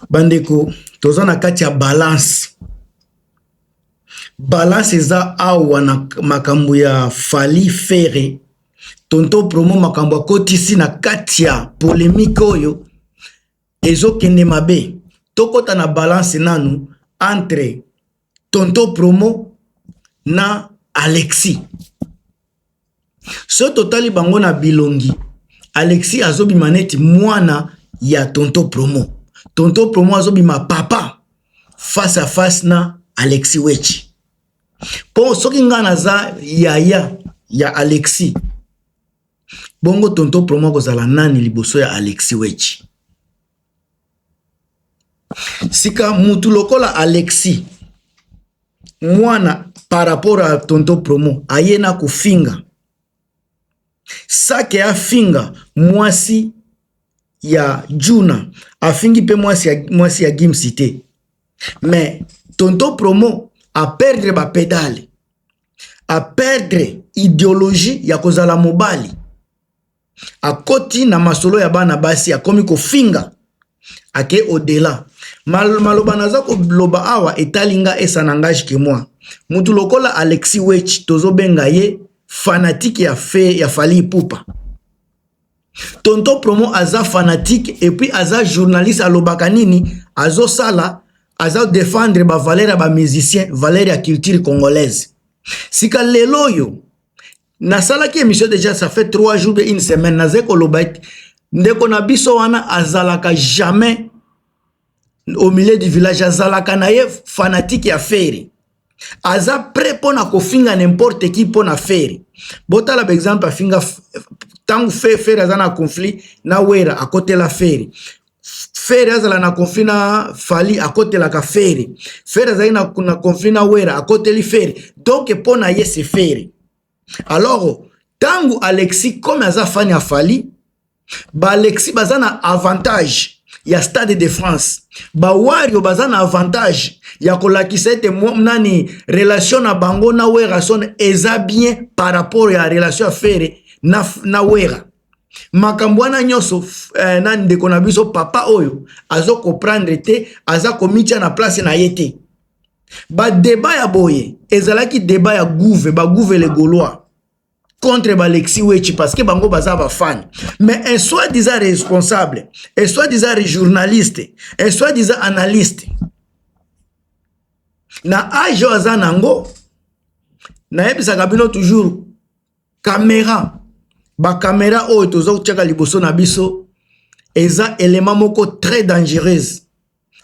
bandeko toza na kati ya balance balance eza awa na makambo ya fali fere tonto promo makambo akotisi na kati ya polemike oyo ezokende mabe tokɔta na balance nanu entre tonto promo na alexi so totali bango na bilongi alexi azobima neti mwana ya tonto promo tonto promo azobima papa face à face na alexi wechi mpo soki ngai naza yaya ya alexi bongo tonto promo akozala nani liboso ya alexi wechi Sika mutu lokola Alexis mwana par rapport ya tonton promo aye na kofinga sake afinga mwasi ya djuna afingi pe mwasi ya gimsi te mais tonton promo a perdre ba pedale a perdre ideologie ya kozala mobali. akoti na masolo ya bana basi akomi kofinga ake odela Mal, maloba naza koloba awa etali nga esa na ngage ke moi mutu lokola alexi wech tozobenga ye fanatike ya fe ya fali ipupa tonto promo aza fanatike epuis aza journaliste alobaka nini azosala aza defendre bavaleur ya bamusicien valeur ya culture congolaise sika lelo oyo nasalaki émission déjà ça fait 3 jours de une semaine nazali koloba ete ndeko na biso wana azalaka jamais au milieu du village azalaka na ye fanatique ya feri aza prêt mpo na kofinga n'importe qui mpo na feri botala baexemple afinga ntango feri aza na conflit na wera akotela feri Ferre azala na conflit na Fally akotelaka Ferre. Ferre azali na, na conflit na Wera akoteli Ferre. Donc mpo na ye c'est Ferre. Alors tangu Alexis comme aza fan ya Fally, ba Alexis baza na avantage ya Stade de France. Ba Wario baza na avantage ya kolakisa ete nani relation na bango na Werrason eza bien par rapport ya relation ya Ferre na, na Wera. makambo wana nyonso eh, na ndeko na biso papa oyo azo comprendre te aza komitya na place na ye te badeba ya boye ezalaki deba ya gouve bagouve le gaulois contre balexi wechi parce que bango baza bafani mais un soit disant responsable un soit disant journaliste un soit disant analyste na age oyo aza nango nayebisaka bino toujours Camera, ba camera oyo toza kotiaka liboso na biso eza element moko très dangereuse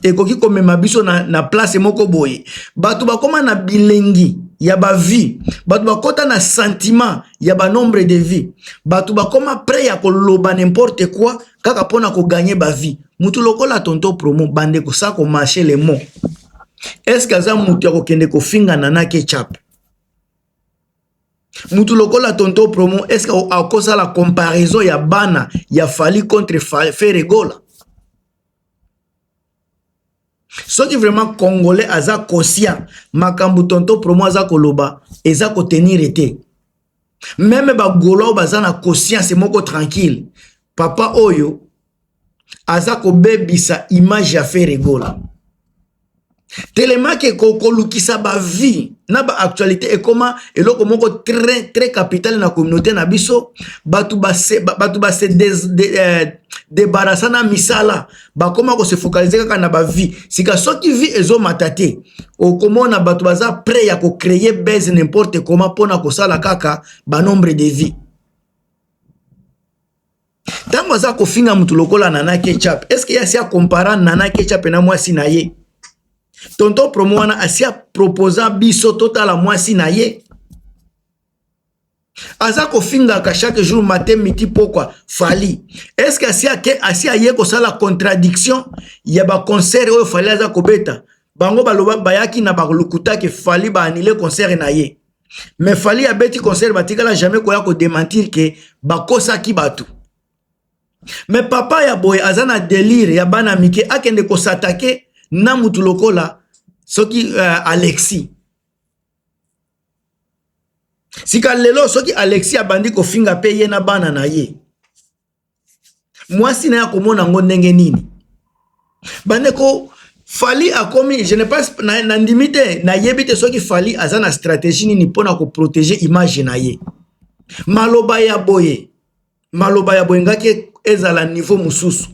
ekoki komema biso na, na place moko boye bato bakoma na bilengi ya bavie bato bakota na sentiment ya banombre de vie bato bakoma près ya koloba n'importe quoi kaka mpona koganye bavie motu lokola tonto promo bande kosa komarche le mot estce aza motu ya kokende kofinga nanake chape mutu lokola tonto promo est ce que akosala comparaison ya bana ya fali contre feregola soki vraiment congolais aza conscient makambo tonto promo aza koloba eza kotenire te meme bagolo oyo baza na conscience moko tranquille papa oyo aza kobebisa image ya Ferre Gola telemaki kolukisa bavie na baactualité ekoma eloko moko très très capital na communauté na biso bato base bato base debarasa euh, na misala bakoma kose focalize kaka na bavie sika soki vie ezomata te okomona bato baza prêt ya kocreye base n'importe comment mpona kosala kaka banombre de vie ntango aza kofinga motu lokola nana ketchup est ce que ye asi akompara nana ketchup na mwasi na ye tonto promo wana asi aproposa biso totala mwasi na ye aza kofingaka chaque jour mate miti pokwa fali est ce que asi, ake, asi aye kosala contradiction ya baconcert oyo fali aza kobeta bango baloba bayaki na balokutaki fali baanile concert na ye mais fali abeti concert batikala jamais koya ko dementir ke bakosaki bato me papa ya boye aza na delire ya bana mike akende kosatake na mutu lokola soki uh, alexi sika lelo soki alexi abandi kofinga mpe ye na bana na ye mwasi na ye akomona yango ndenge nini bandeko fali akomi je ne pense nandimi na te nayebi te soki fali aza na stratégie nini mpo na koprotege image na ye maloba ya boye maloba ya boye ngaki ezala niveau mosusu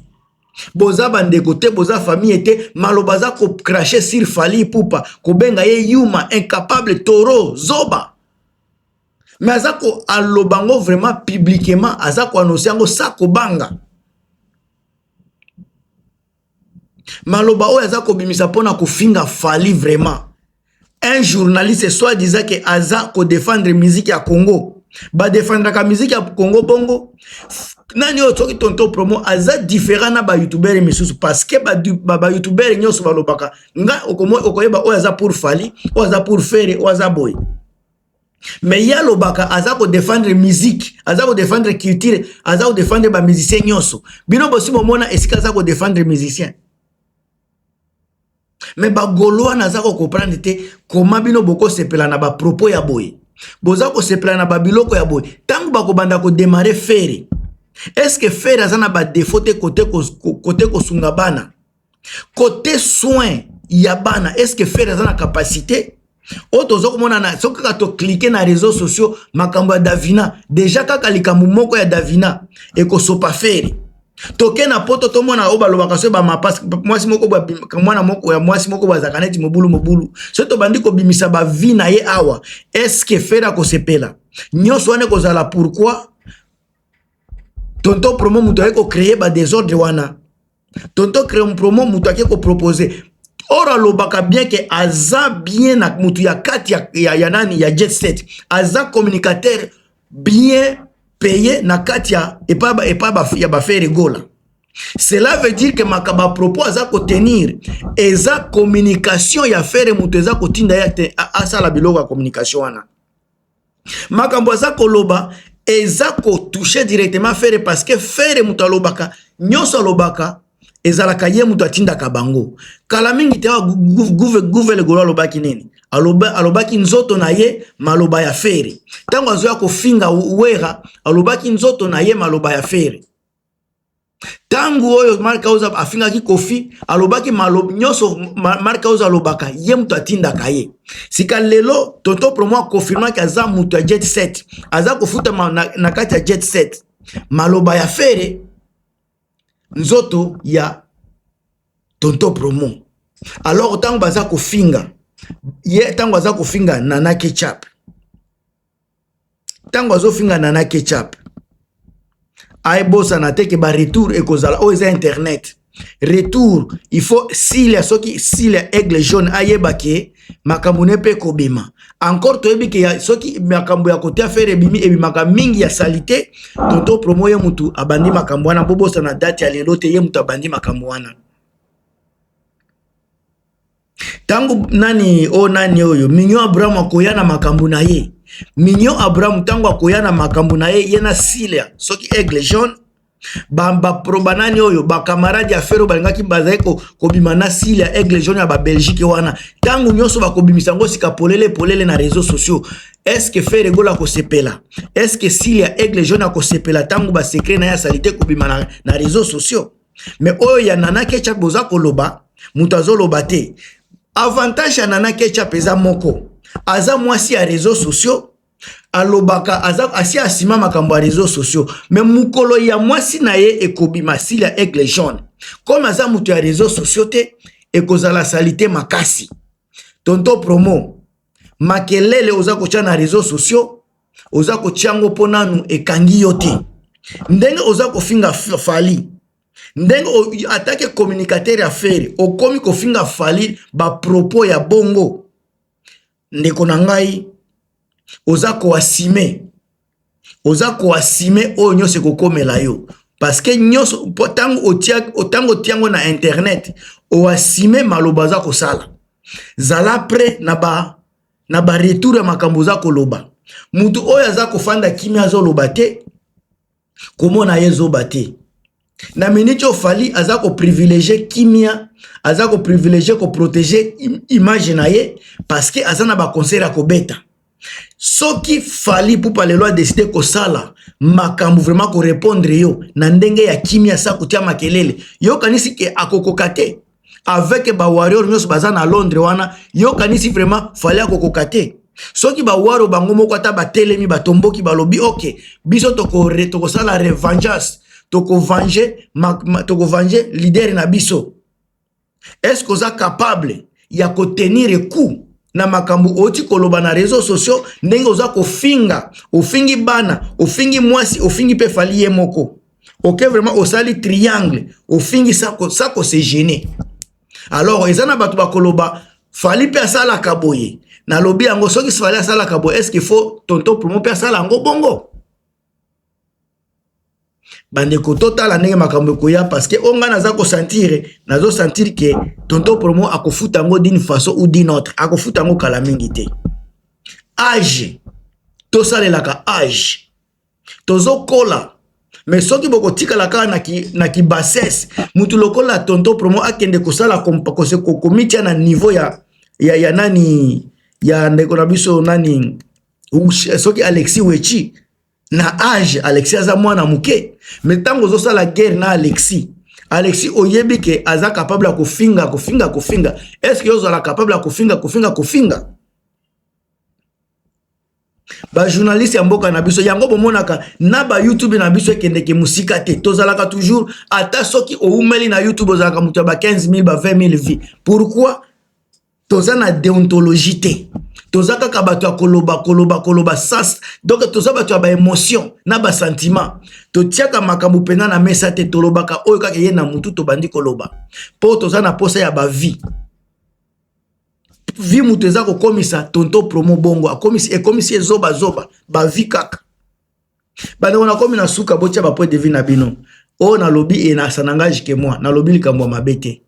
boza bandeko te boza famille te maloba aza kocrache sur fali pupa kobenga ye yuma incapable toro zoba mais aza ko aloba yango vraiment publiquement aza ko annonce yango sa kobanga maloba oyo aza kobimisa mpo na kofinga fali vraiment un journaliste soit disant ke aza kodefendre miziki ya congo badefendraka miziki ya congo bongo nani oyo soki tonto promo aza différent na bayoutubere misusu parce que bayoutubere ba, ba nyonso balobaka nga okoyeba oyo aza pour fali oyo aza pour fere oyo aza boye mais ye alobaka aza kodefendre musique aza kodefendre culture aza kodefendre bamusicien nyonso bino bosi bomona esika aza kodefendre musicien mais bagolois naza kokomprendre te koma bino bokosepela na bapropos ya boye boza kosepela na babiloko ya boye ntango bakobanda kodemare fere eske fere aza na badefaut te kote kosunga bana kote soin ya bana eske fere aza na kapasite oyo toza komona na soki kaka toklike na réseau sociaux makambo ya davina deja kaka likambo moko ya davina ekosopa fere toke na poto tomona oyo balobaka soki bamapasi mwasi moko mwana moko ya mwasi moko bazalaka neti mobulu mobulu soki tobandi kobimisa bavi na ye awa eske fere akosepela nyonso wana ekozala pourkui tonto promo moto ayei kocreye badesordre wana tonto creum promo moto ake kopropose or alobaka bien ke aza bien na moto ya kati ya, ya, ya nani ya jet set aza communicateur bien paye na kati ya epai ya bafere gola cela veut dire ke makambo ya propos aza kotenir eza communication ya fere moto eza kotinda ye asala biloko ya communication wana makambo aza koloba eza kotouche directement fere parce que fere moto alobaka nyonso alobaka ezalaka ye moto atindaka bango kala mingi te guve legolo alobaki nini Aloba, alobaki nzoto na ye maloba ya fere ntango azoya kofinga wera alobaki nzoto na ye maloba ya fere ntango oyo mark house afingaki kofi alobaki malob nyonso mark house alobaka ye moto atindaka ye sika lelo tonto promo akonfirmaki aza moto ya jet set aza kofutama na, na kati ya jet set maloba ya fere nzoto ya tonto promo alors ntango baza kofinga ye ntango aza kofinga nanaki chape ntango azofinga nana ketchup ayebosana te ke ba retour ekozala oyo eza internet retour il faut silia soki silia aigle jaune ayeba ke makambo ne mpe ekobima encore toyebi ke soki makambo ya kotia fere ebimi ebimaka mingi ya salite tonto promo ye motu abandi makambo wana bobosana date ya lelo te ye motu abandi makambo wana Tango nani o oh, nani oyo Mignon Abraham akoya na makambo na ye Mignon Abraham tango akoya na makambo na ye ye na Silia soki Aigle Jaune baproba ba nani oyo bakamarade ya fero balingaki bazali kobima ko na sile ya aigle jaune ya babelgike wana ntango nyonso bakobimisa yango sika polele polele na réseau sociaux estce fere egola akosepela estce sile ya aigle jaune akosepela ntango basekre na ye asalite kobima na, na réseau sociaux me oyo ya nana ketchup boza koloba moto azoloba te avantage ya nana ketchup eza moko aza mwasi ya réseau sociaux alobaka aza asi asima makambo ya réseau sociaux me mokolo ya mwasi na ye ekobima sili ya aigle jaune comme aza moto ya réseau sociaux te ekozala salite makasi tonto promo makelele oza kotya na réseau sociaux oza kotya yango mpo nanu ekangi yo te ndenge oza kofinga fali ndenge atake communicateur ya fere okomi kofinga fali bapropos ya bongo ndeko na ngai oza koasime oza koasime oyo nyonso ekokomela yo parceke nyonso mpo ntango otia yango na internet oasime maloba oza kosala zala pre na ba na baretour ya makambo oza koloba moto oyo aza kofanda kimia azoloba te komona ye zoba te na minute oyo fali aza koprivilege kimia aza koprivilege koprotege image na ye parceke aza na baconcert ya kobeta soki fali pupa lelo adeside kosala makambo vraimen korepondre yo na ndenge ya kimia sa kotia makelele yokanisi ke akokoka te avec ba warrior nyonso baza na londres wana yokanisi vraiment fali akokoka te soki bawaro bango moko ata batelemi batomboki balobi oke biso tokosala revengeance tokovange toko leader na biso eske oza capable ya kotenir coup na makambo oti koloba na réseau sociaux ndenge oza kofinga ofingi bana ofingi mwasi ofingi mpe fali ye moko oke vraiment osali triangle ofingi sako sako se gene alors eza na bato bakoloba fali mpe asalaka boye nalobi yango soki fali asalaka boye est ce qu'il faut tonton plumo mpe asala yango bongo bandeko totala ndenge makambo ekoya parceke o ngai naza kosantire nazo santire ke tonto promo akofuta yango d'une façon ou d'une autre akofuta yango kala mingi te age tosalelaka age tozokola me soki bokotikala kaka na, ki, na kibasese mutu lokola tonto promo akende kosala komitya na niveau ya, ya, ya nani ya ndeko na biso nani soki alexi wechi na age alexi aza mwana moke me ntango ozosala guerre na alexi alexi oyebi ke aza capable ya kofinga kofinga kofinga estce ozala capable ya kofinga kofinga kofinga ba journaliste ya mboka na biso yango bomonaka na ba youtube na biso ekendeke mosika te tozalaka toujours ata soki oumeli na youtube ozalaka moto ya ba 15 000 ba 20 000 vie pourquoi toza na deontologie te toza kaka bato ya koloba koloba koloba sas donk toza bato ya baémotion na basentiment totiaka makambo mpenza na mesa te tolobaka oyo kaka eye na motu tobandi koloba mpo toza na mposa ya bavie vie moto eza kokomisa tonto promo bongo akomisi ekomisi ye zoba zoba bavi kaka bandeko nakomi na suka botya bapoint de vie na bino oyo oh, nalobi enasa na ngai jike mwa nalobi likambo ya mabe te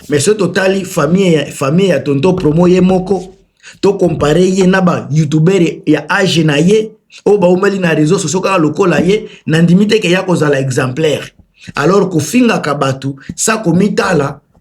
mais soki totali famille famille ya tonto promo ye moko tokompare ye na bayoutubere ya age na ye oyo baumeli na réseau sociaux kaka lokola ye nandimi te ke ya kozala exemplaire alors kofingaka bato sa komitala